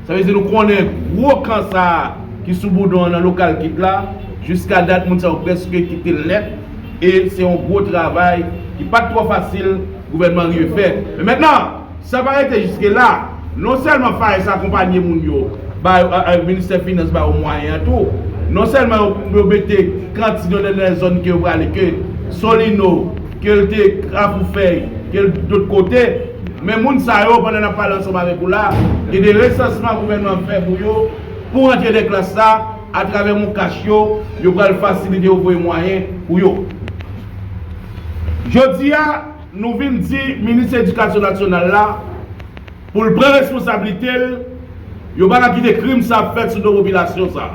Sa vle di nou konnen gwo kan sa a ki sou Boudon an nan lokal gid la, jiska dat moun sa yo prèske kite l nèt e se yon gwo travay ki pa t twò fasil gouvènman an rive fè. Men mentnan, sa pa rete jiske la, non sèlman FAES akonpanye moun yo, ba yo, ministè finans ba yo mwayen an tou, non sèlman yo mete kantin yo nan zòn ke yo prale ke Solino, Ke l te Kafoufèy, ke l dot kote, men moun sa yo, pandan n ap pale ansanm avèk ou la, gen de resansman gouvènman an fè pou yo, pou rantre de klas sa, atravè MonCash yo, yo pral fasilite yo voye mwayen pou yo. Jodi a, nou vin di Minis Edikasyon Nasyonal la, pou l pran responsablite l, yo pa ka kite krim sa fèt sou do popilasyon sa.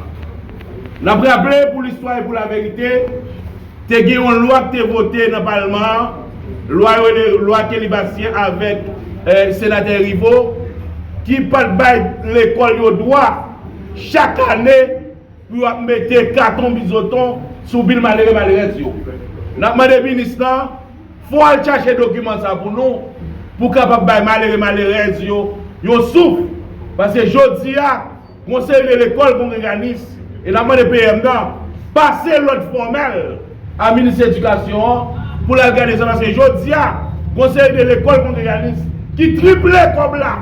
N ap raple, pou listwa e pou laverite, Te gen yon lwa ki te vote nan palman an, lwa yo rele lwa Kelly Bastien avèk senatè Rivo, ki pat bay lekòl yo dwa chak ane pou yo ap mete katon bizoton sou vil malere malerèz yo. N ap mande minis lan, fò w al chache dokiman sa pou nou, pou w kapab bay malere malerèz yo yon souf, paske jodi a, Konsèy de lekòl kongreganis e n ap mande PM nan pase lòd fòmèl a minis edikasyon an pou l al gade sa paske jodi a konsèy de lekòl kongreganis ki triple kòb la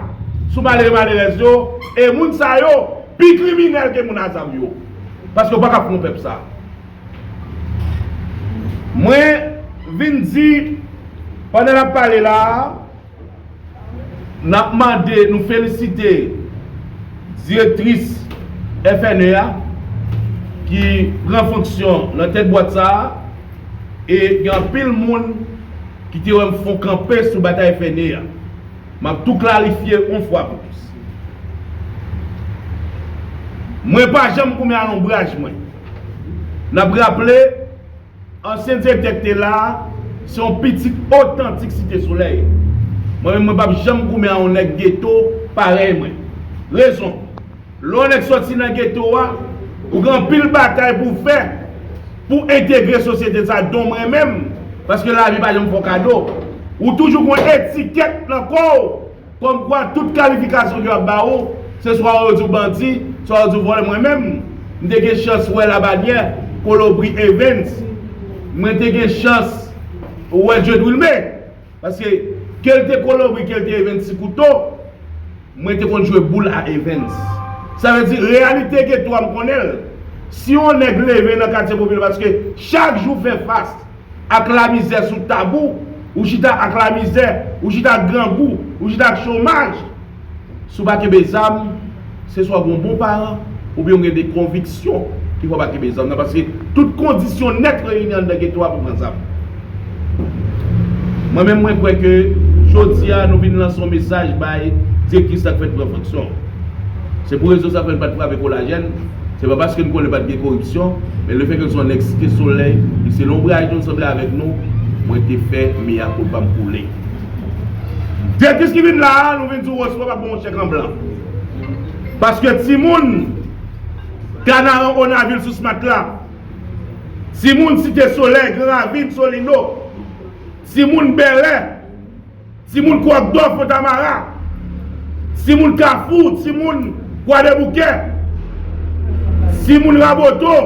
sou malere malerèz yo e moun sa yo pi kriminèl ke moun a zam yo paske yo pa kab kon pèp sa mwen vin di pandan n ap pale la a. N ap mande, nou felisite direktris FNE a ki pran fonksyon nan tèt bwat sa a e gen anpil moun ki te wè m fon kanpe sou batay FNE a. M ap tou klarifye yon fwa pou tout. Mwen pa janm goumen alonbraj mwen. N ap raple. Ansyen direktè ki te la a, se yon pitit otantik Site Solèy. Mwen menm mwen pa p janm goumen a yon nèg geto parèy mwen. Rezon, lè yon nèg sòti nan geto a, ou gen anpil batay pou w fè pou w entegre sosyete sa a, don mwen menm, paske lavi pa janm fè w kado. Ou toujou gen yon etikèt nan kò w Kòm kwa tout kalifikasyon yo ap ba ou, se swa yo di w bandi, swa yo di w vòlè mwen menm, m te gen chans wè Labanyè, Kolobri Evens, mwen te gen chans wè Dieudwilme, paske ke l te Kolobri ke l te Evens ti kouto, mwen te konn jwe boul a Evens. Sa vle di reyalite Geto a m konnen l. Si yon nèg leve nan katye popilè paske chak jou fè fas. ak lamizè sou tab ou, ou chita ak lamizè, ou chita ak grangou, ou chita ak chomaj. Si w pa kenbe zam, se swa w gen yon bon paran oubyen w gen de konviksyon ki fè w pa kenbe zam nan paske tout kondisyon nèt reyini anndan geto a pou pran zam. Mwen menm mwen kwè ke jodi a nou vin lanse yon mesaj bay direktris la k fèk pran fonksyon. Se pou rezon sa fè l pa t frape kolajèn. Se pa paske m konnen pat gen koripsyon, men le fè ke l se yon nèg Site Solèy, li se lonbraj nou, li sanble avèk nou, mwen te fè mea culpa m koule. Direktris ki vin la a, nou vin di w Osmo pa pou yon chèk an blan. Paske timoun Kanaran Onavil sous Matla, timoun Site Solèy, Gran Ravin, Solino, timoun Bèlè, Ti moun kwak dò fontamara. Ti moun kafou ti moun kwadèboukè. Ti moun raboto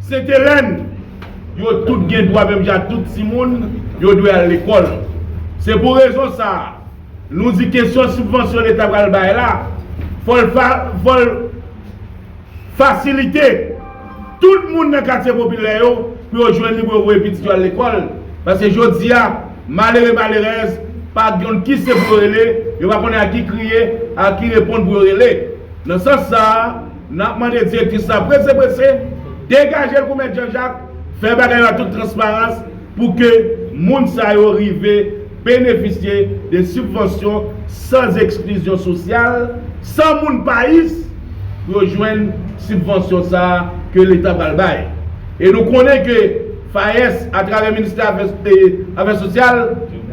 sentelèn. Yo tout gen dwa menm jan ak tout ti moun yo dwe al lekòl. Se pou rezon sa a nou di kesyon sibvansyon leta pral bay la fò l fò l. Fasilite tout moun nan katye popilè yo pou yo jwenn li pou yo voye pitit yo al lekòl, paske jodi a, malere malerèz pa gnyn ki se pou yo rele, yo pa konnen a ki kriye, a ki reponn pou yo rele. Nan sans sa a, n ap mande direktris la prese prese, degaje l kou mèt Janjak, fè bagay yo ak tout transparans, pou ke moun sa yo rive benefisye de sibvansyon san eksklizyon sosyal, san moun pais pou yo jwenn sibvansyon sa a ke Leta pral bay. E nou konnen ke FAES atravè Ministè Afè Sosyal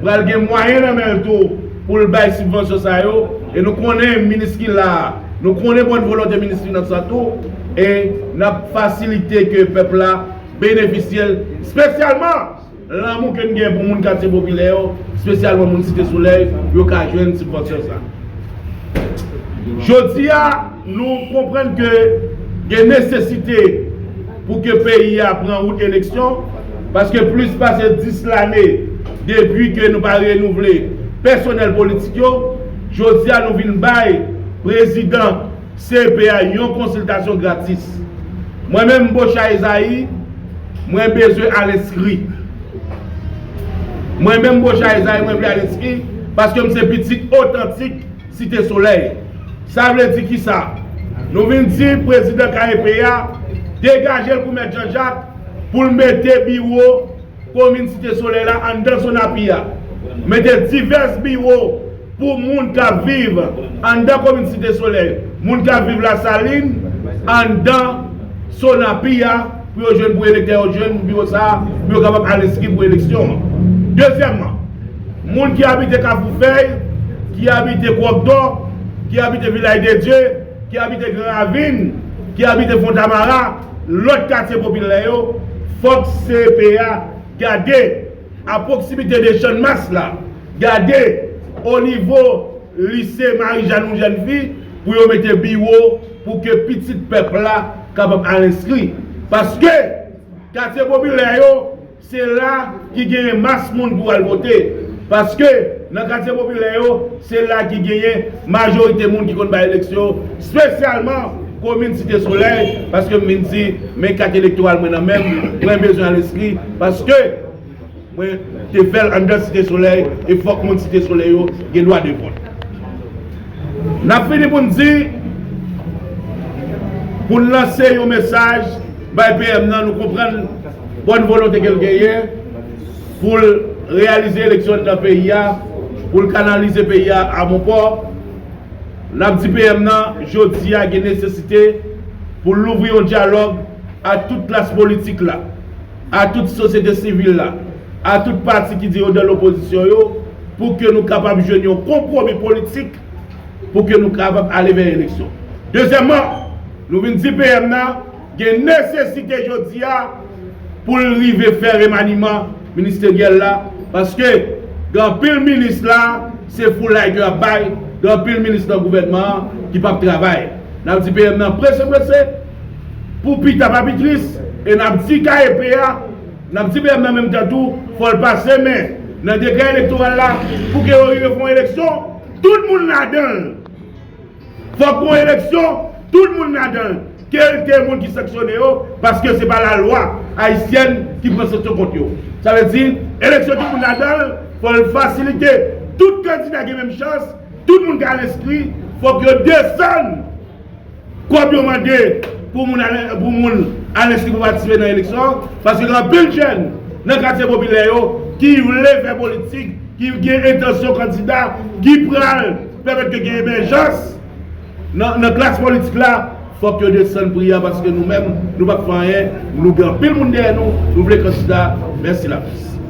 pral gen mwayen nan men l tou pou l bay sibvansyon sa yo e nou konnen minis ki la a, nou konnen bòn volonte minis Finans la tou e n ap fasilite ke pèp la benefisyel spesyalman lanmou ke n gen pou moun katye popilè yo spesyalman moun site solèy yo ka jwenn sibvansyon sa jodi a nou konprann ke gen nesesite pou ke peyi a pran wout eleksyon paske plis pase 10 lane depi ke nou pa renouvle pèsonèl politik yo jodi a nou vin bay prezidan. CPA yon konsiltasyon gratis. Mwen menm Bochard Esaïe mwen bezwen al enskri. Mwen menm Bochard Esaïe mwen vle al enskri paske m se pitit otantik Site Solèy. Sa vle di kisa? Nou vin di prezidan KEP a degaje l pou mèt Jean Jacques pou l mete biwo Komin Site Solèy la anndan zòn api a mete divès biwo pou moun k ap viv anndan komin Site Solèy, moun k ap viv Lasalin anndan zòn api a pou yo jwenn pou elektè yo jwenn biwo sa a pou yo kapab al enskri pou eleksyon an. Dezyèmman, moun ki abite Kafou Fèy, ki abite Kwòkdò, ki abite Vilay de Dye, ki abite Gran Ravin, ki abite Fontamara, Lòt katye popilè yo, fòk CEPEA gade a pwoksimite de Channmas la, gade o nivo Lise Marijàn ou jèn fi pou yo mete biwo pou ke pitit pèp la kapab al enskri. Paske katye popilè yo. Se la ki genyen mas moun pou al vote. Paske, nan katye popilè yo, se la ki genyen majorite moun ki konn bay eleksyon, spesyalman komin Site Solèy, paske m vin di, men kat elektoral mwen nan men m, mwen bezwen al enskri, paske mwen te fè l anndan Site Solèy, e fòk moun Site Solèy yo gen dwa de vòt. N ap fini pou n di, pou n lanse yon mesaj. Bay PM nan nou konprann bòn volonte ke l genyen pou l reyalize eleksyon anndan peyi a, pou l kanalize peyi a a bon pò. N ap di PM nan jodi a gen nesesite pou l louvri yon dyalòg a tout klas politik la, a tout sosyete sivil la, a tout pati ki di yo nan lopozisyon yo pou ke nou kapab jwenn yon konpwomi politik pou ke nou kapab ale vè eleksyon. Dezyèmman, nou vin di PM nan gen nesesite jodi a pou l rive fè remaniman ministeryèl la paske gen anpil minis la se foulay ke y ap bay, gen anpil minis nan gouvènman an ki p ap travay. N ap di PM nan prese prese pou pita pa pi tris e n ap di KEP a, N ap di PM nan menm tan tou, fò l pase men nan dekrè elektoral la pou ke yo rive fè yon eleksyon tout moun ladan l. Fòk gen yon eleksyon tout moun ladan l, ke l te moun ki sanksyone yo, paske se pa lalwa ayisyèn ki pran sanksyon kont yo. Sa vle di, eleksyon tout moun ladan l, fò l fasilite, tout kandida gen menm chans, tout moun ka al enskri, fòk yo desann. Kob yo mande pou moun al enskri pou patisipe nan eleksyon an, paske gen anpil jèn nan katye popilè yo ki vle fè politik, ki gen entansyon kandida, ki pral pèmèt ke gen emèjans nan klas politik la, fòk yo desann pri a paske nou menm nou pap fè anyen, nou gen anpil moun dèyè nou, nou vle kandida, mèsi laprès.